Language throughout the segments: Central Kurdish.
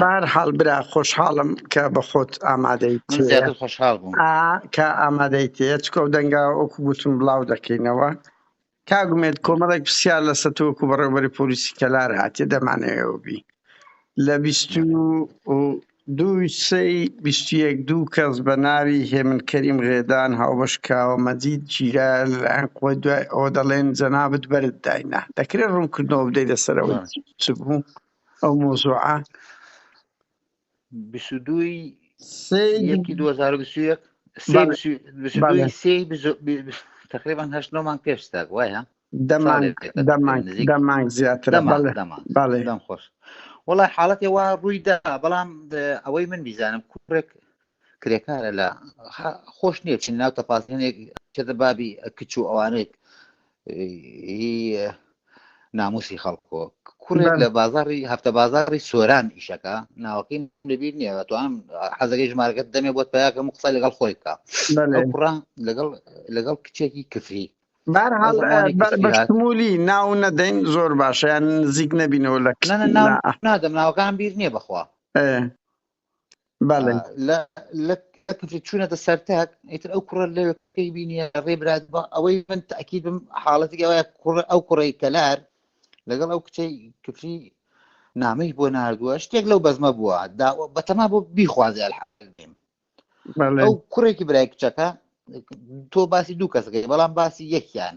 بارحاڵ برا خۆشحاڵم کە بە خۆت ئامادەی خۆشحاڵ بووم کە ئامادەی تێ چکە و دەنگا ئۆکو گوتم بڵاو دەکەینەوە کاگومێت کۆمەڵێک پرسیار لە سەتۆکو بەڕێوبەری پۆلیسی کەلار هااتێ دەمانەوە بی لە بیست دووی سەی بیستیەک دوو کەس بە ناوی هێمن کەریم غێدان هاوبەش کاوە مەجید جیرا لەلایەن قوی دوای ئەوە دەڵێن جەنابەت بەرت داینا دەکرێت ڕوونکردنەوە بدەی لەسەرەوە چ بوو ئەو مۆزوعە بیست و دووی سێی یەکی دوو هەزار و بیست و یەک سێ بەڵێ. بیست و- بیست و بەڵێ. دووی سێی بیست و- بی- بی- تقریبان هەشت نۆ مانگ پێش ستاک وایە دەمانگ ساڵێک دێت، دەمانگ نزیک. دەمانگ زیاترە دەمانگ بەڵێ دەمانگ بەڵێ دەم خۆش وڵای حاڵەتی وا ڕووی دا بەڵام اه، ئەوەی من بیزانم کوڕێک کرێکارە لە خا- خۆش نییە چین ناو تەپاسێنێک چێتە بابی کچ و ئەوانێک ناموسی خەڵکۆ کوڕێک لە بازاری هەفتە بازاری سۆران ئیشەکە ناوەکەی لەبییر نیە تو ئەم حەزەکەی ژمارەکەت دەمێ بۆت پیاکەم قسە لەگەڵ خۆی بکە کوڕا لەگەڵ لەگەڵ کچێکی کفری بەشمولی ناو نەدەین زۆر باشیان نزیک نەبینەوە لە نادەم ناوەکان بیر نییە بخوا چوونەتە سەرتاک ئیتر ئەو کوڕە لە پێی بینیە ڕێبرات بە ئەوەی من تاکیید بم حاڵەتی ئەوە کوڕ ئەو کوڕی کەلار لەگەڵ ئەو کچەی کفری نامەی بۆ نردووە شتێک لەو بەزمە بووە بەتەما بۆ بیخوازێ ئەو کوڕێکی برای کچەکە تۆ باسی دوو کەسەکەی بەڵام باسی یەکیان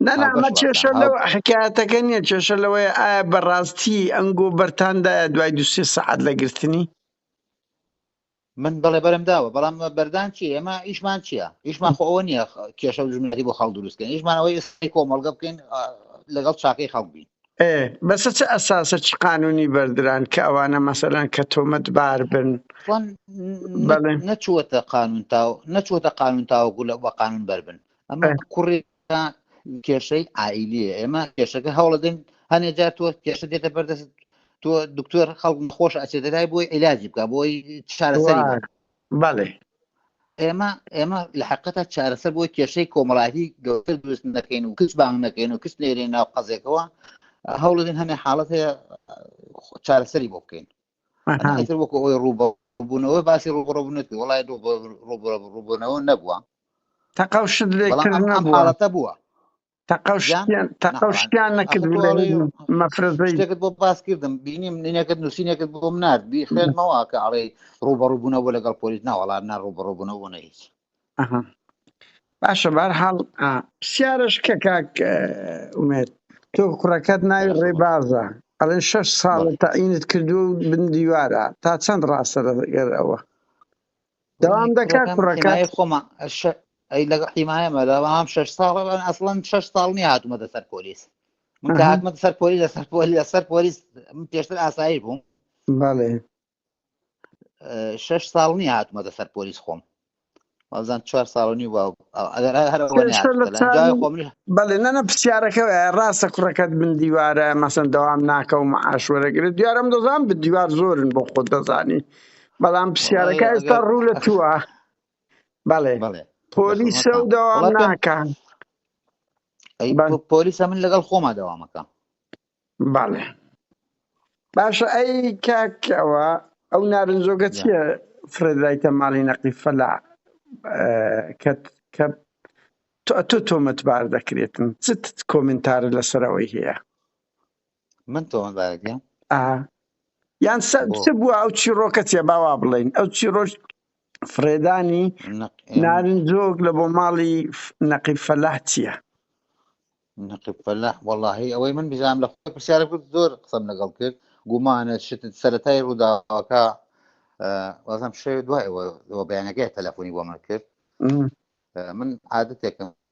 نەنامە کێشە لەو حکایەتەکە نییە کێشە لەوەیە ئایا بەڕاستی ئەنگۆ بەرتاندایە دوای دو سێ سەعات لە گرتنی من بەڵێ بەرم داوە بەڵام بەردان چی ئێمە ئیشمان چییە ئیشمان خۆ ئەوە نییە کێشە و ژمنەتی بۆ خەڵ دروستکەن ئیشمانەوەی ئێستی کۆمەڵگە بکەین لەگەڵ چاکەی خەڵبین ئێ بەسە چ ئەساسە چ قانونی بەردران کە ئەوانە مەسەلەن کە تۆمەت بار بن وان بەڵێ نە- نەچووەتە قانون تا نەچووەتە قانون تاوەکو لە بە قانون بەربن ئەمە ئێ، کوڕی تا کێشەی عائیلیە ئێمە کێشەکە هەوڵەدەین هەنێ جار تۆ کێشە دێتە بەردەست تۆ دکتۆر خەڵک خۆش ئەچێتە لای بۆی عیلاجی بکە بۆی چارەسەری بکە وان بەڵێ. ئێمە ئێمە لە حقیقەتە چارەسەر بۆی کێشەی کۆمەڵایەتی گەورەتر دروست نەکەین و کچ بانگ نەکەین و کچ نێرین ناو قەزێکەوە هەوڵدین هەنێ حاڵەت هەیە چارەسەری بۆ بکەین ئەتر وەکو ئەوی ڕووبە بوونەوە باسی ڕوبڕبوونەت وڵای ڕوبڕبوونەوە نەبووە تەقەڵ شت لێکردنەوە حاڵەتە بووە تەقەو یان شتیان تەقەو نەخۆان شتیان ئەخۆ نەکرد تۆ لە ئەڵێ هیچ مەفرەزەی شتێکت بۆ باس کردم بینیم نینەکەت نووسینەکەت بۆم نارد بی خوێنمەوە کە ئەڵێ ڕوبەڕوبوونە بۆ لەگەڵ پۆلیس ناوەڵا نا ڕوبەڕوبوونە بۆ نە هیچ ئەها باشە بار حاڵ پرسیارش کە کاک اه، ئومێد تۆ کوڕەکەت ناوی بەرە خۆبەر ڕێبازە ئەڵێن شەش ساڵە بەڵێ تەعینت کردووە و بن دیوارە تا چەند ڕاستە لەگەر ئەوە دەوام دەکات کوڕەکە خۆمە ئەی لەگە حیمایەمە لەوام شش ساڵ ئەسڵەن شش ساڵ نیە هاتومە دەسەر پۆلیس من کە هاتمە سەر پۆلی لەسەر پۆلی لەسەر پۆلیس من پێشتر ئاسایی بووم بەڵێ شش ساڵ نیە هاتومە دەسەر پۆلیس خۆم وازان چوار ساڵنی و بەڵێ نەنە پرسیارەکە ڕاستە کوڕەکەت من دیوارە مەسەن دەوام ناکەم عاشوەرەگرێت دیارم دەزان بە دیوار زۆرن بۆ خۆت دەزانی بەڵام پرسیارەکە ئێستا ڕوو لە تووە بەڵێ پۆلی سە و داوام ناکان پۆلیسە من لەگەڵ خۆما داوامەکە بەڵێ باشە ئەی کاکەوە ئەو نارنجۆگە چیە فرێدرایتە ماڵی نەقی فەلا کە کە تۆ تۆمەتبار دەکرێتن چت کۆمنتار لەسەرەوەی هەیە من تۆمە بارگە یان چ بووە ئەو چیڕۆکە چێ باوا بڵین ئەو چیڕۆژ فرێدانی نارنجۆک لە بۆ ماڵی نەقی فەلاح چییە نەقی فەلاح وەڵی ئەوەی من بزانام لە خۆی پرسیارە کرد زۆر قسەم لەگەڵ کرد گومانە شت سەتای ڕووداوەکە وازم شێ دوای بەیانەکەی تەلەفۆنی بۆ من کرد من عادەتێکم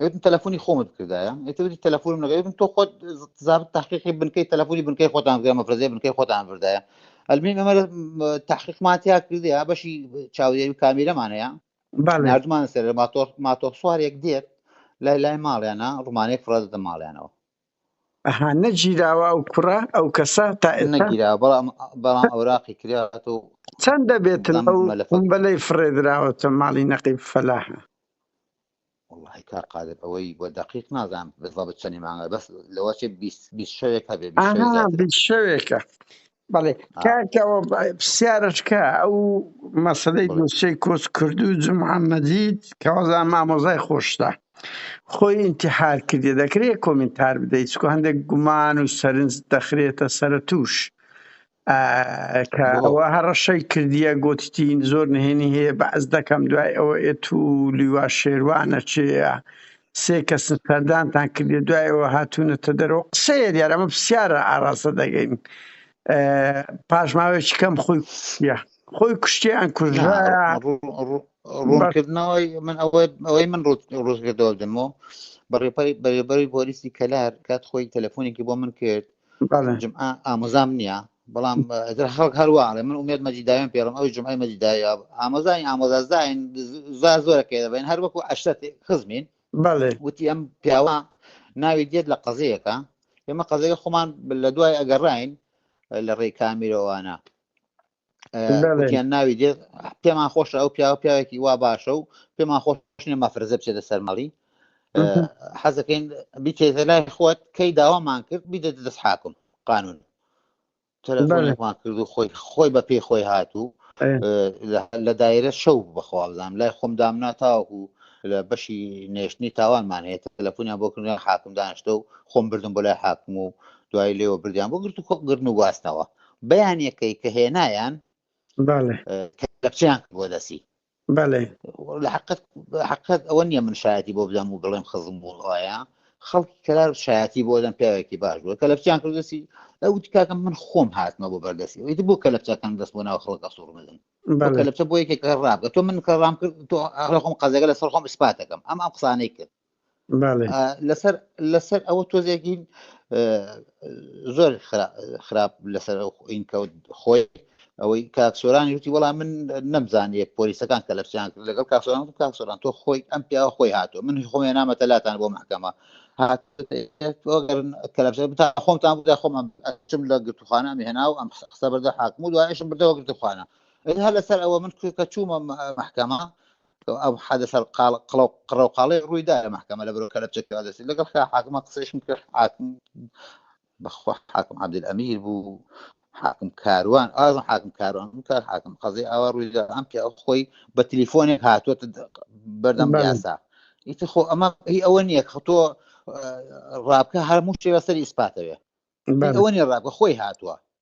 ئەوتم تەلەفۆنی خۆمت بکردایە ئەتوتی تەلەفۆنم نەگەێتم تۆ خۆت زاب تحقیقی بنکەی تەلەفۆنی بنکەی خۆتان بگە مەفرەزەی بنکەی خۆتان بردایە ئەلمین ئەمە تحقیقماتیا کردی ها بەشی چاودێری کامیرەمان هەیە نردمان سەر ماتۆر ماتۆر سوارێک دێت لای لای ماڵیانە ڕمانەیەک فڕدە ماڵیانەوە ئەها نەگیراوە ئەو کوڕە ئەو کەسە تا نەگیرا بەڵام بەڵام ئەوراقی کرات و چەند دەبێتن ئەو بەلەی فڕێدراوەتە ماڵی نەقیب فەلاحە وەڵاهی کاک قادر ئەوەی بە دەقیق نازانم بزەبت چەنی مانگە بەس لەوە چێ بیست بیست شەوێک هەبێ بیست شەوێ ئاها زیاتر بیست شەوێکە بەڵێ آ کاکەوە پرسیارەکە ئەو مەسەلەی بڵێ دۆسێی کۆچ کردوو محەممەدیت کەوازان مامۆزای خۆشتە خۆی ئینتحار کردی دەکرێت کۆمنتار بدەیت چکو هەندێک گومان و سەرنج دەخرێتە سەرە تووش کە ئەوە هەڕەشەی کردیە گوتتین زۆر نهێنی هەیە بەعز دەکەم دوای ئەوە ئێت و لیوا شێروانە چێە سێ کەس سەردانتان کردێ دوایەوە هاتوونەتە دەرەوە قسەیە دیار ئەمە پرسیارە ئاراستە دەگەین پاشماوێکی کەم خۆی کوشتە خۆی کوشتیان کوژرا ڕوونکردنەوەی من ئەوەی ئەوەی من ڕوزگردەوە دەمەوە بەڕێپەری بەرێبەری بۆریسی کەلار کات خۆی تەلەفۆنێکی بۆ من کرد بەڵێ جمعە ئامۆزام نییە بەڵام ئەگەر خەڵک هەروە ئەڵێ من ئومێد مەجیداوێن پێڵم ئەوی جمعی مەجیدایا ئامۆزای ئامۆزازداین زار زۆرە پێ دەبین هەر وەکو عشرەت خزمین بەڵێ وتی ئەم پیاوە ناوی دێت لە قەزەیەکە ئێمە قەزەکە خۆمان لە دوای ئەگەڕین لە ڕێی کامیرەوانە وتیان ناوی دێت پێمان خۆشە ئەو پیاوە پیاوێکی وا باشە و پێمان خۆشنێ مەفرزە بچێتە سەرمەڵی حەزەکەین بیتێتە لای خۆت کەی داوامان کرد بیدە دەست حاکم قانون تەلەفۆنێکمان کرد و خۆی خۆی بە پێی خۆی هاتوو لە دایرە شەو بەخوابزانام لای خۆم دامنا تاوەکو لە بەشی نێشتنی تاوانمان هەیە تەلەفۆنیان بۆ کردن حاکم دانیشتە و خۆم بردم بۆ لای حاکم و دوای لێوە بردیان بۆ گرت و کۆ گردن و گواستنەوە بەیانیەکەی کە هێنایان کەچیان بۆ دەسی لە حقت ئەوە نییە من شایەتی بۆ بدەم و بڵێم خزم بوون ئایا خەڵکی کەلار شایەتی بۆ دەم پیاوێکی باش بووە کە لەچیان کردسی ئەو تکاکەم من خۆم هاتمە بۆ بەردەسی ئەویت بۆ کە لەچەکان دەست بۆ ناو خەڵکە سوور بدەن لەچە بۆ یەکێک ڕابگە تۆ من کەڕام کرد تۆ خۆم قەزەگە لەسەر خۆم سپاتەکەم ئەم ئەم قسانەی کرد لەسەر لەسەر ئەوە تۆزێکین زۆر خراپ لەسەر ئین کەوت خۆی ئەوەی کاکسۆرانی وتی وەڵام من نەمزانیە پۆلیسەکان کە لەپسیان کرد لەگەڵ کاکسۆران و کاکسۆران تۆ خۆی ئەم پیاوە خۆی هاتو من خۆێ نامەتە لاتان بۆ محکەمە بتا خۆمتان بدا خۆمان ئەچم لە گرتوخانە مهێنا و ئەم قسە بەردە حاکم و دوایشم بردەوە گرتوخانە هەر لەسەر ئەوە من کە چوومە محکەمە ئەم حەدەسە قڕەوقاڵەی ڕوویدا لە مەحکەمە لە بەرۆ کەلەپچە کەوادەسی لەگەڵ خا حاکمە قسەیشم کرد حاکم بەخوا حاکم عبدل ئەمیر بوو حاکم کاروان ئازم حاکم کاروان کە حاکم قەزی ئاوا ڕوویدا ئەم پێ ئەو خۆی بە تلیفۆنێک هاتووە بەردەم یاسا ئیتر خۆ ئەمە هی ئەوە نییە کە تۆ ڕابکە هەرموو شێوە سەری ئیسپاتەوێ ئەوە نیە ڕابکە خۆی هاتووە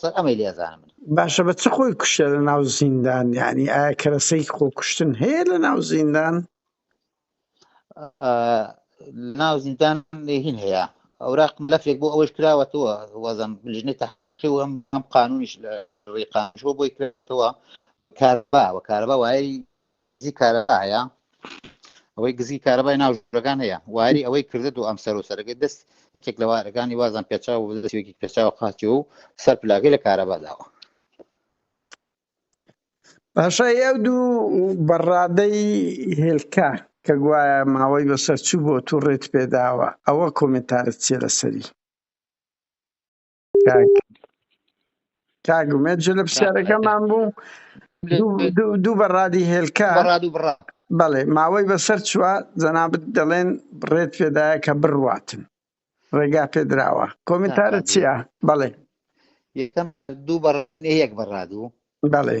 سەر ئەمەی لێزانم من باشە بە چ خۆی کوشتە لە ناو زیندان یعنی ئایا کەرەسەی خۆ کوشتن هەیە لە ناو زیندان ناو زیندان هین هەیە ئەوراق ملفێک بۆ ئەوەش کراوەتەوە وەزم لژنی تحقی و ئەم ئەم قانونیش لە ڕێقانشۆ بۆی کراوە کاربا و کاربا وای گزی کارەبا هەیە ئەوەی گزی کارەبای ناو ژورەکان هەیە واری ئەوەی کردە دوو ئەم سەر و سەرەکەی دەست کێک لە وارەکانی وازان پێچاو و دەستێکی پێچاو قاچی و سەر پلاگەی لە کارەبا داوە باشە ئەو دوو بەڕادەی هێلکە کە گوایە ماوەی بەسەر چوو بۆ تو ڕێت پێداوە ئەوە کۆمنتارت چیە لەسەری کاک کاک ئومێد جل لە کاک ئومێد پرسیارەکەمان بوو دوو دوو دوو بەڕادی هێلکە بەڕاد و بڕا بەڵێ ماوەی بەسەر چووە جەنابت دەڵێن ڕێت پێدایە کە بڕواتن ڕێگا پێدراوە نا کۆمنتارە کاک چییە؟ بەڵێ یەکەم دوو بەڕ یەک بەڕادوو بەڵێ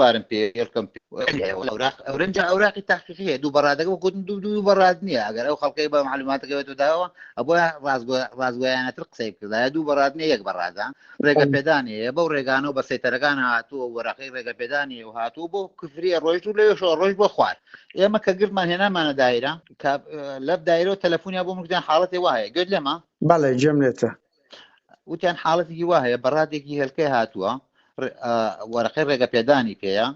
بارم پێ یەکەم ئەورنج ئەوراقی تاقیقی هەیە دوو بەڕادەکە گوتن دوو دوو بەڕاد نییە ئەگەر ئەو خەڵکەی بە معلوماتەکەوێت و داوە ئەبە ڕازگویانەتر قسەی کردە دوو بەڕاد نیە یەک بەڕادە ڕێگە پێدان هەیە بەو ڕێگانە و بە سەیتەرەکان هاتووە وەراقی ڕێگە پێدانی و هاتوو بۆ کفریە ڕۆژ و لەوێشەوە ڕۆژ بۆ خوار ئێمە کە گرمان هێنامانە دایرە لەب دایرەوە تەلەفۆنیا بۆ مردیان حاڵەتی وایە گوێت لێمە بەڵێ جێم لێتە وتیان حاڵەتێکی وا هەیە بەڕادێکی هێلکەی هاتووە وەرەقەی ڕێگە پێدانی پێەیە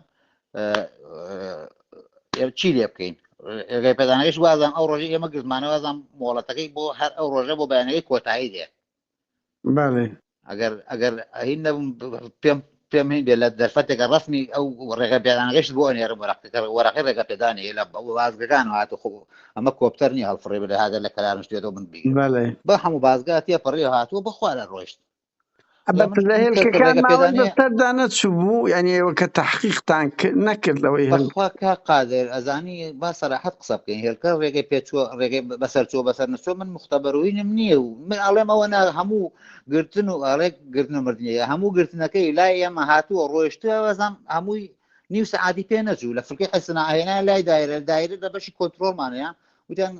چی لێ بکەین ڕێگەی پێدانەکەش وازان ئەو ڕۆژی ئێمە گرزمانەوەزان مۆڵەتەکەی بۆ هەر ئەو ڕۆژە بۆ بەیانەکەی کۆتایی دێ ئەگەر ئەگەر ئەهین نەبم پێم پێم هەین بێ لە دەرفەتێکە ڕەسمی ئەو ڕێگە پێدانەکەشت بۆ ئەنێرم وەرەقەکە وەرەقی ڕێگە پێدانەیە لە بازگەکان هات خۆ ئەمە کۆپتەر نیە هەڵفڕێ بێ هاگەر لە کەلارم شتێتەوە من بگیرم بەڵێ بە هەموو بازگا تێ پەڕێ هاتووە بەخوا لە ڕۆیشت لە من لە من کەس کە هێلکەکان ڕێگە ماوەی پێدانەیە بەسەردا نەچوو بوو یعنی ئێوە کە تحقیقتان کرد نەکرد لەوەی هەن بەخوا کا قادر ئەزانی با سەراحەت قسە بکەین هێلکە ڕێگەی پێچووە ڕێگەی بەسەر چووە بەسەر نەچووە من مختبەروینم نییە و من ئەڵێم ئەوە نا هەموو گرتن و ئەڵێک گرتن و مردنیە هەموو گرتنەکەی لای ئێمە هاتووە ڕۆشتوە بەزان هەمووی نیو سعادی پێ نەچوو لە فکری حسنا هێنا لای دایرە دایرە لە بەشی کۆنتترۆلمانەیە وتیان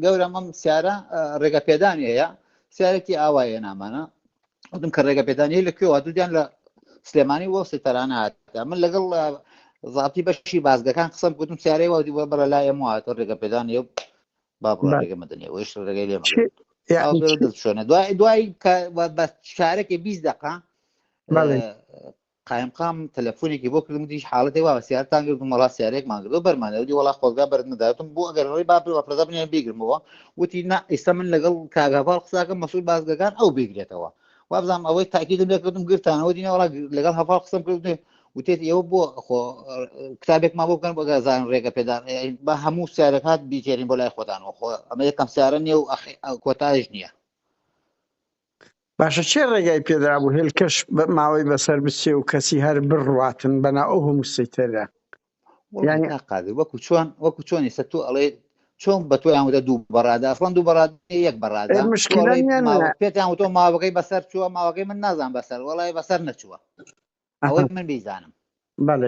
گەورە مەم سیارە ڕێگە پێدانی هەیە سیارێکی ئاوایە نامانە وتم کە ڕێگە پێدانی لە کوێوە دوودیان لە سلێمانی وە سێتەرانە هات من لەگەڵ زابتی بەشی بازگەکان قسم گوتم سیارەی وەدی وە بەرە لای ئەمواتە ڕێگە پێدانی با بڕۆ ڕێگە مەدەنێ ئەوش ڕێگەی لێ شوێنە دوای دوای بە شارەکە بیست دقا قایمقام تەلەفۆنێکی بۆ کردم دیش حاڵەتی وا سیارتان گرتم وڵا سیارێکمان گرۆ بەرمانەوەی وڵا خۆزگا بەرمداتم بۆ ئەگەر ڕێ با بەپەدا بنێن بیگرمەوە وتی نا ئیستا من لەگەڵ کاگاڤڵ قساکە مەسول بازگەکان ئەو بگرێتەوە وابزانم ئەوەی تاکیدم لێ کردم گرتانەوە دینە وڵا لەگەڵ هەفاڵ قسم کرد وتێت ئێوە بۆ خۆ کتابێکمان بۆ بکەن بەگەزان ڕێگە پێدان بە هەموو سیارەکات بیتێنین بۆ لای خۆدانەوە خۆ ئەمە یەکەم سیارە نیە و کۆتایش نییە باشە چێ ڕێگای پێدرا بوو هێلکەش ماوەی بەسەر بچێ و کەسی هەر بڕاتن بەنا ئەو هەموو سیتەرە یانی قادر وەکو چۆن وەکو چۆن ئێستا تۆ ئەڵێ چۆن بە تۆ یانوتە دوو بەڕادا ئەسڵەن دوو بەڕاد یەک بەڕادا پێتان تۆ ماوەکەی بەسەر چووە ماوەکەی من نازان بەسەر وڵی بەسەر نەچووە ئەوەی من بیزانم بەڵێ